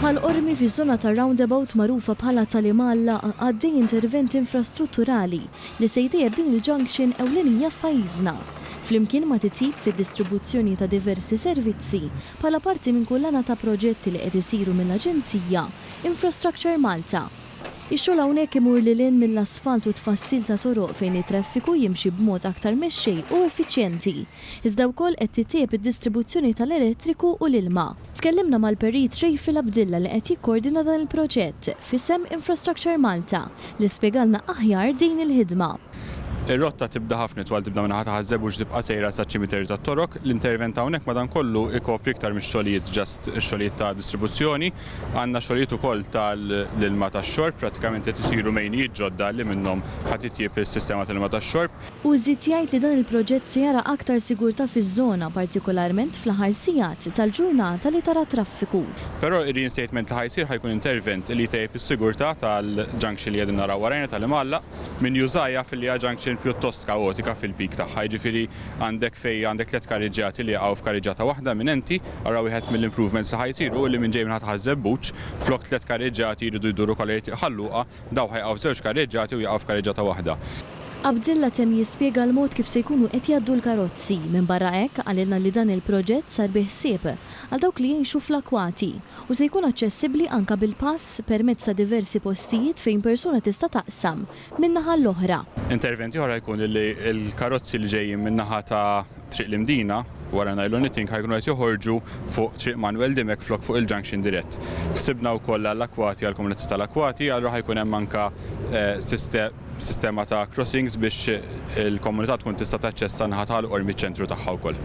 Bħal Qormi fiż-żona tar-roundabout magħrufa bħala Tali Mgħallaq għaddej intervent infrastrutturali li se jtejjeb din il-junction ewlenija f'pajjiżna. Flimkien ma' titjib fid-distribuzzjoni ta' diversi servizzi bħala parti minn kullana ta' proġetti li qed isiru mill-aġenzija Infrastructure Malta. Ix-xogħol hawnhekk imur lil hinn mill-asfalt u t-tfassil ta' toroq fejn it-traffiku jimxi b'mod aktar mexxej u effiċjenti. Iżda wkoll qed tittejjeb id-distribuzzjoni tal-elettriku u l-ilma. Tkellimna mal-Perit Rayfill Abdilla li qed jikkoordina dan il-proġett f'isem Infrastructure Malta li spjegalna aħjar din il-ħidma. Ir-rotta tibda ħafna itwal, tibda min-naħa ta' Ħaż-Żebbuġ u tibqa' sejra saċ-Ċimiterju tat-Torok. L-intervent hawnhekk madankollu ikopri iktar mix-xogħlijiet just xogħlijiet ta' distribuzzjoni. Għandna xogħlijiet ukoll tal-ilma tax-xorb, prattikament qed isiru mejnijiet ġodda li minnhom ħa titjieb is-sistema tal-ilma tax-xorb. Hu żied jgħid li dan il-proġett se jara aktar sigurtà fiż-żona, partikolarment fl-aħħar sigħat tal-ġurnata li tara traffiku. Però ir-reinstatement li ħa jsir ħa jkun intervent li jtejjeb is-sigurtà tal-junction li qegħdin naraw warajna tal-Imgħallaq. Min jużha jaf li hija junction pjuttost kaotika fil-peak tagħha, jiġifieri għandek fejn għandek tliet kariġġati li jaqgħu f'kariġġata waħda eminenti. Ara wieħed mill-improvements li ħa jsir hu li min ġej minn ħa-Tħaż-Żebbuġ, flok tliet kariġġati jridu jduru kollha jrid iħalluha Dawk ħa jaqgħu żewġ karreġġati u jaqgħu f'karreġġata waħda. Abdilla temm jispjega l-mod kif se jkunu qed jgħaddu l-karozzi. Minbarra hekk, qalilna li dan il-proġett sar bi ħsieb għal dawk li jgħixu fl-akwati u se jkun aċċessibbli anke bil-pass permezz ta' diversi postijiet fejn persuna tista' taqsam minn naħa għall-oħra. Intervent ieħor ħa jkun li l-karozzi li ġejjin min-naħa ta' Triq l-Imdina, wara Nylon Knitting ħa jkunu qed joħorġu fuq Triq Manwel Dimech flok fuq il-junction dirett. Ħsibna wkoll għall-Akwati, għall-komunità tal-Akwati, allura ħa jkun hemm anke sistema ta' crossings biex il-komunità tkun tista' taċċessa n-naħa ta' Ħal Qormi miċ-ċentru tagħha wkoll.